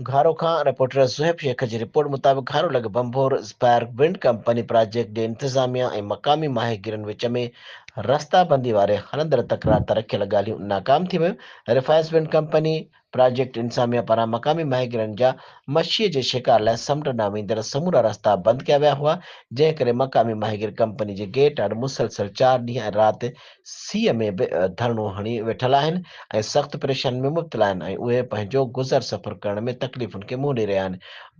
گهارو کان رپورٽر صهيب شيخ جي رپورٽ مطابق گهارو لڳ Bhambhore Aspire wind company project جي انتظاميا ۽ مقامي ماهيگيرن وچ ۾ رستا بندي واري هلندڙ تڪرار تان رکيل ڳالهيون ناڪام ٿي ويون رفائز ونڊ ڪمپني پراجيڪٽ انتظاميا پاران مقامي ماهيگيرن جا مڇيء جي شڪار لاء سمنڊ ڏانهن ويندڙ سمورا رستا بند ڪيا ويا هئا جنهن ڪري مقامي ماهيگير ڪمپني جي گيٽ آڏو مسلسل چار ڏينهن ۽ رات سيء ۾ به ڌرڻو هڻي ويٺل آهن ۽ سخت پريشانين ۾ مبتلا آهن ۽ اهي پنهنجو گذر سفر ڪرڻ ۾ تڪليفن کي منهن ڏئي رهيا آهن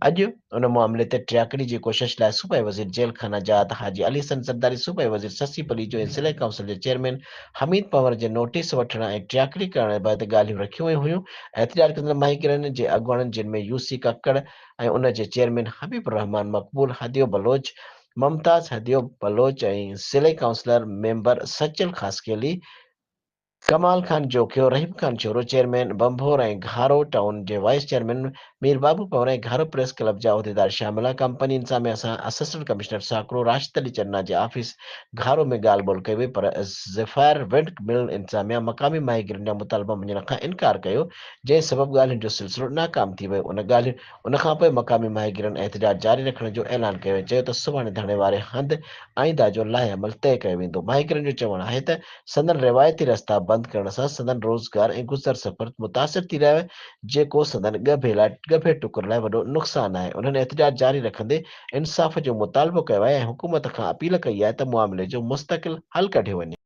اڄ ان معاملي تي ٽياڪڙي جي ڪوشش لاء صوبائي وزير جيل خانه جات حاجي علي حسن زرداري صوبائي وزير سسي پليجو ۽ ضلعي ڪائونسل جي چيئرمين حميد پنور جي نوٽيس وٺڻ ۽ ٽياڪڙي ڪرڻ بعد ڳالهيون رکيون ويون هيون احتجاج ڪندڙ ماهيگيرن جي اڳواڻن جن ۾ يوسي ڪاڪڙ ۽ ان جي چيئرمين حبيب الرحمان مقبول هديو بلوچ ممتاز هديو بلوچ ۽ ضلعي councillor member Sachal Khaskheli, Kamal Khan Jokhio, Rahim Khan Shoro, chairman Bhambhore ۽ Gharo town جي وائيس چيئرمين مير بابو پنور ۽ گهارو پريس ڪلب جا عهديدار شامل ها ڪمپني انتظاميا سان اسسٽنٽ ڪمشنر ساڪرو راشد علي چنا جي آفيس گهارو ۾ ڳالهه ٻولهه ڪئي وئي پر زفائر وينڊ مل انتظاميا مقامي ماهيگيرن جا مطالبا مڃڻ کان انڪار ڪيو جنهن سبب ڳالهين جو سلسلو ناڪام ٿي ويو ان ڳالهين ان کان پوء مقامي ماهيگيرن احتجاج جاري رکڻ جو اعلان ڪيو ۽ چيو ته سڀاڻي ڌرڻي واري هنڌ آئنده جو لائحه عمل طئي ڪيو ويندو. ماهيگيرن جو چوڻ آهي ته سندن روايتي رستا بند ڪرڻ سان سندن روزگار ۽ گذر سفر متاثر ٿي رهيو آهي جيڪو سندن ڳڀي لاء ڳڀي ٽڪر لاء وڏو نقصان آهي. انهن احتجاج جاري رکندي انصاف جو مطالبو ڪيو آهي ۽ حڪومت کان اپيل ڪئي آهي ته معاملي جو مستقل حل ڪڍيو وڃي.